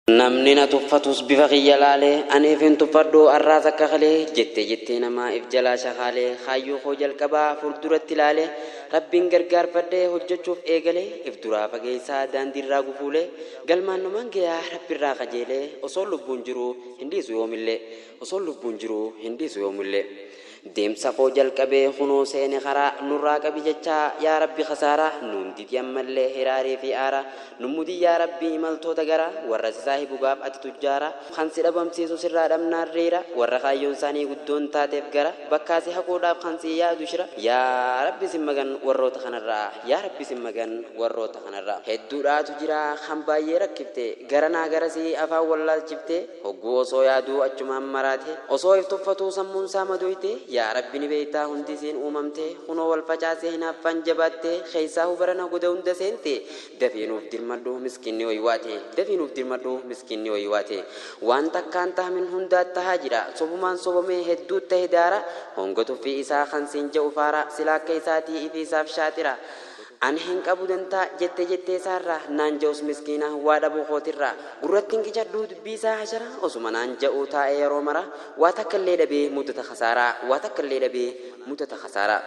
Namni na tuffatus bifa kiyya laalee aniif hin tuffadhu arraas akka kalee jettee jettee namaa if jalaa shakaalee kaayyoo koo jalqabaa fulduratti laalee Rabbiin gargaarfadhee hojjachuuf eegalee if duraa fageessaa daandiirraa gufuulee galmaan numan gayaa Rabbirraa kajeelee osoon lubbuun jiruu hin dhiisu yoomillee osoon lubbuun jiruu hin dhiisu yoomillee. Deemsa koo jalqabee kunoo seene karaa Nurraa qabi jechaa yaa rabbi kasaaraa Nuun didi ammallee hiraarii fi aaraa Nu mudi yaa rabbi imaltoota garaa Warra si saahibu gaaf ati tujjaaraa Kan si dhabamsiisu sirraa dhabnaan riira Warra kaayyoon saanii guddoon taateef gara Bakkaa si haquudhaaf kan sii yaadu shira Yaa rabbi sin magan warroota kanarraa Yaa rabbi sin magan warroota kanarraa Hedduudhaatu jira kan baayyee rakkifte Garanaa garasii afaan wallaalchifte Hogguu osoo yaaduu achumaan maraate. Osoo if tuffatuu sammuun saa madoyte. Yaa Rabbi ni beeytaa hundi isiin uumamte. Kunoo wal facaasee hinaaffaan jabaatte. Keeysaahu barana goda hunda seente. Dafii nuuf dirmadhu miskiinni oywaate. Dafii nuuf dirmadhu miskiinni oywaate. Waan takkaan tahmin hundaa tahaa jira. Sobumaan sobomee hedduu tahe daara. Honga tuffii isaa kan siin ja'u faara. Silaa akka isaatii ifiisaaf shaaxira. An hin qabu dantaa jettee jettee isaarraa naan ja'us miskiina waa dhabuu kootirraa gurrattin qicadhuu dubbii isaa hasharaa osuma naan ja'uu taa'ee yeroo maraa waa takka illee dhabee muddata kasaaraa waa takka illee dhabee muddata kasaaraa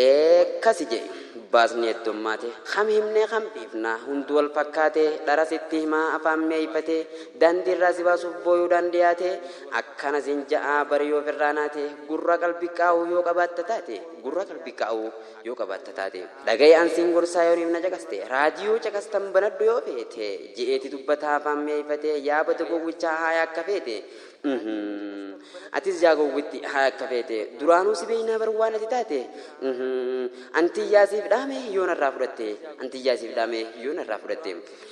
ee kasi je'e baasni heddommaate kam himnee kam dhiifnaa hunduu wal fakkaate dhara sitti himaa afaan mi'eeyfatee daandii irraa si baasuuf booyuudhaan dhiyaate akkana siin ja'aa bari yoo firraa naate gurra qalbi qaawuu yoo qabaatta taate gurra qalbi qaawuu yoo qabaatta taate. Dhaga'i an siin gorsaa yoo niif na caqaste. Raadiyoo caqastan banadhu yoo feete. Je'eeti dubbata afaan mi'eeyfatee yaa bada gowwichaa haaya akka feete. Uhmm. Atis yaa gowwitti haaya akka feete. Duraanuu si beeynaa bar waan ati taate. Uhmm. An tiyyaa siif dhaame yoo narraa fudhatte. An tiyyaa siif dhaame yoo narraa fudhatte.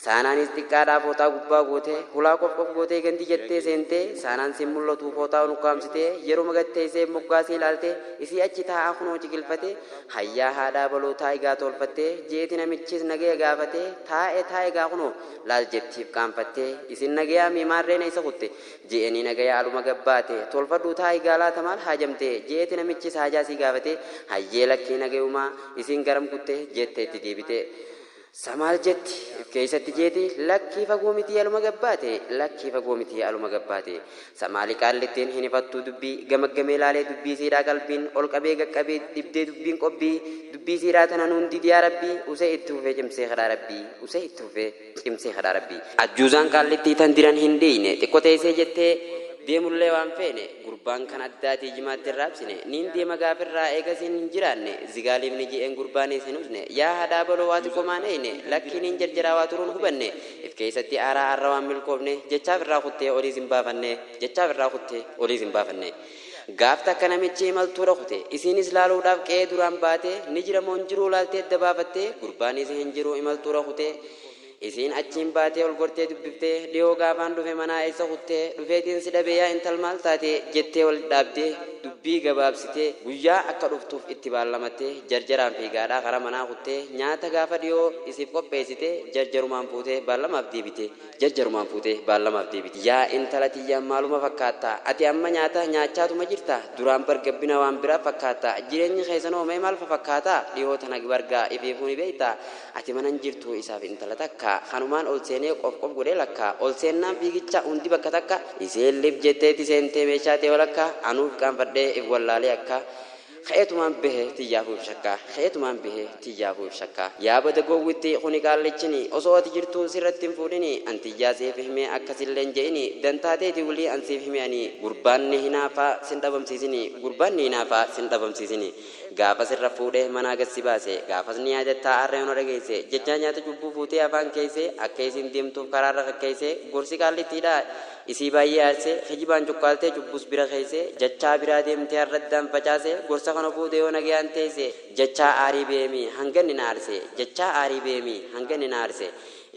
Saanaanis xiqqaadhaa fooxaa gubbaa gootee, hulaa qof qof gootee gandi jettee seentee, Saanaan sin mul'atuu fooxaa unukkaamsitee, yeruma gad teessee moggaa sii laaltee, isii achi taa'aa kunoo ciqilfatee, Hayyaa haadhaa baloo taa'i gaa toolfattee, jeeti namichis nagaya gaafatee, Taa'e taa'i gaa kunoo, laal jettiif qaanfattee, isin nagayaa mii maarreen eessa kutte? je'eenii nagaya aluma gad baate, toolfadhuu taa'i gaa laata maal haajamte? je'eeti namichis haajaa sii gaafatee, Hayyee lakkii nagayumaa, isin garam kutte? jette itti deebitee. Sa maal jetti? If keeysatti jeeti, Lakkii fagoo mitii aluma gabbaate, lakkii fagoo mitii aluma gabbaate. Sa maali qaallittiin hin hifattuu dubbii, gamaggamee laalee dubbii isiidhaa qalbiin, ol qabee gad qabee dhibdee dubbiin qobbii, dubbii isiidhaa tana nuun diidi yaa rabbii, usee itti fufee cimsee kadhaa rabbii, usee itti fufee cimsee kadhaa rabbii. Ajjuuzaan qaallittii tan diran hin dhiiyne, xiqqo teeysee jettee deemullee waan feene, Gurbaan kan addaatii jimaatti hin raabsine. Niin deema gaafirraa eegasiin hin jiraanne. Zigaaliimni je'een gurbaaniis hin usne. Yaa hadhaa baloo waa xiqqomaan eeyne. Lakkii niin jarjaraa waa turuun hubanne. If keeysatti aaraa arra waan milkoofne. Jechaa ifirraa kuttee oliis hin baafanne. Jechaa ifirraa kuttee oliis hin baafanne. Gaaf takka namichi imaltuura kute. Isiinis laaluudhaaf qe'ee duraan baate. Ni jira moo hin jiruu laaltee adda baafatte. Gurbaaniis hin jiru imaltuura kute. Isiin achiin baatee ol gortee dubbiftee, dhihoo gaafaan dhufe manaa eessa kutte? Dhufeetiin si dhabe yaa intal maal taate? jettee wal dhaabbdee dubbii gabaabsitee guyyaa akka dhuftuuf itti baallamattee jarjaraan fiigaadhaa karaa manaa kuttee nyaata gaafa dhihoo isiif qopheessite jarjarumaan fuutee baallamaaf deebite jarjarumaan fuutee baallamaaf deebite. Yaa intala tiyya maaluma fakkaatta? Ati amma nyaata nyaachaatuma jirta? Duraan bar gabbina waan biraa fakkaatta. Jireenyi keessanoo mee maal fafakkaata? Dhihoo tana bar gaa ifiifuu ni beekta. Ati mana hin jirtuu isaaf intala takka kanumaan ol seenee qof qof godhee lakka ol seennaan fiigicha hundi bakka takka iseen lif jetteeti seentee meeshaa tee walakka anuu if qaanfadhee if wallaalee akka ka'eetumaan bahe tiyyaafuu if shakka ka'eetumaan bahe tiyyaafuu if shakka yaa bada gowwitti kuni qaallichini osoo ati jirtuu sirratti hin fuudhini an tiyyaa siif himee akka sillee hin je'ini dantaa teeti wly an siif hime ani gurbaan ni hinaafaa sin dhabamsiisini gurbaan ni hinaafaa sin dhabamsiisini Gaafa sirra fuudhee manaa gad si baase gaafas ni yaadattaa aarri ona dhageesse jechaa nyaata cubbuu fuutee afaan keesse akka isiin deemtuuf karaarra kakkeesse gorsi qaallittiidhaa isii baay'ee aarse kijibaan cuqqaaltee cubbuus bira keesse jechaa biraa deemtee arraddaan facaase gorsa kana fuute yoo nagayaan teesse jechaa aarii beemi hanga inni na aarse jechaa aarii beemi hanga inni na aarse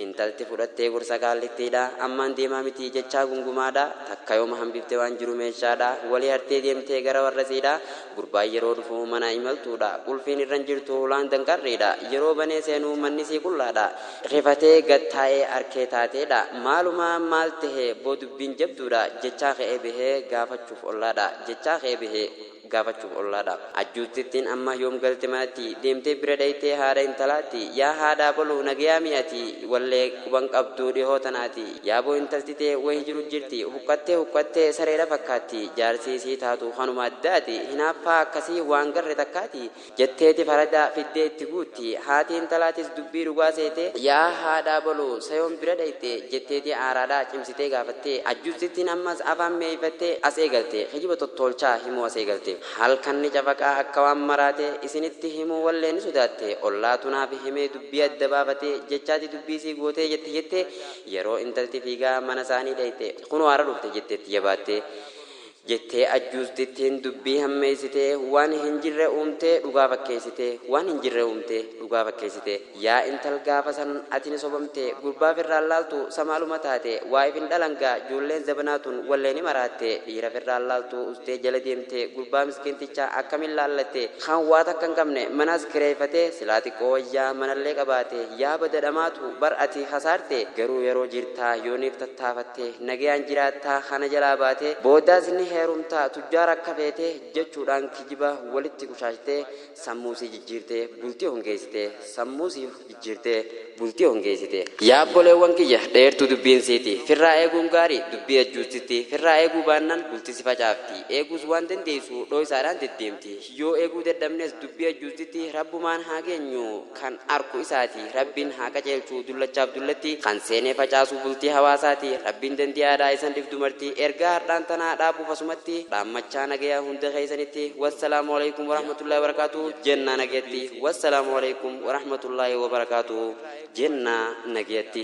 Intalti fudhattee gorsa qaallittiidha Ammaan deemaa miti jechaa gungumaadha Takka yooma hambifte waan jiru meeshaadha Wali hartee deemtee gara warrasiidha Gurbaan yeroo dhufu manaa imaltuudha Qulfiin irra hin jirtu hulaan danqarriidha Yeroo banee seenu mannisii qullaadha Rifatee gad taa'ee arkee taateedha Maaluma maal tahe boo dubbiin jabduudha Jechaa ka'ee bahee gaafachuuf ollaadha Jechaa ka'ee bahee. gaafachuuf ollaa dha. Ajjuuttittiin amma yoom galte manatti? Deemtee bira dhayxee haadha intalaatti? Yaa haadha abaluu nagayaa mii ati? Wallee quban qabduu dhihoo tanaati. Yaaboo intalti tee wahi jiru jirti. Huqqattee huqqattee sareedha fakkaatti. Jaarsii sii taatu kanuma addaati. Hinaaffaa akkasii waan garre takkaati. Jetteeti farada fiddee itti guutti. Haati intalaatis dubbii dhugaa seete, Yaa haadha abaluu, sa yoom bira dhayxe? jetteeti aaraadhaa cimsitee gaafatte. Ajjuuttittiin ammas afaan mi'eeyfattee as eegalte. Kijiba tottoolchaa himuu as eegalte. Halkan ni cafaqaa akka waan maraate isinitti himuu wallee ni sodaatte. Ollaatu naaf himee dubbii adda baafate jechaati dubbii sii gootee jetti jettee yeroo intalti fiigaa mana saanii dhayxe. Kunoo har'a dhufte jetteetti jabaattee. jettee ajjuustittiin dubbii hammeessitee waan hin jirre uumtee dhugaa fakkeessite waan hin jirre uumtee dhugaa fakkeessite yaa intal gaafa san ati ni sobamte gurbaa firraan laaltu sa maaluma taate waa if hin dhalan gaa joolleen zabanaa tun wallee ni maraatte dhiira firraan laaltu ustee jala deemte gurbaa miskiinticha akkamiin laallatte kan waa takka hin qabne manas kireeyfate silaa xiqqoo wayyaa manallee qabaate yaa bada dhamaatu bar ati kasaarte garuu yeroo jirtaa yooniif tattaafatte nagayaan jiraattaa kana jalaa baatee boodaas ni heerumtaa tujjaara akka feete jechuudhaan kijiba walitti qushaashtee sammuu sii jijjiirtee bultii hongeessite sammuu sii jijjiirtee bultii hongeessite. Yaa obboleewwan kiyya dheertuu dubbiin siiti firraa eeguun gaarii dubbii ejjuusitti firraa eeguu baannaan bulti si facaafti eeguus waan dandeessu dhooysaadhaan deddeemti Yoo eeguu dadhabnes dubbii ajjuuttitti Rabbumaan haa geenyu kan arku isaati Rabbiin haa qaceelchu dullachaaf dullattii kan seenee facaasu bultii hawaasaati Rabbiin dandi'aadha isan dhif dumartii ergaa hardhaan tanaa dhaabuuf asumatti dhaammachaa nagaya hunda keessanitti wassalaamu aleykum warahmatullaahi wabarakaatuh jennaa nagayatti wassalaamu aleykum warahmatullaahi wabarakaatuh jennaa nagayatti.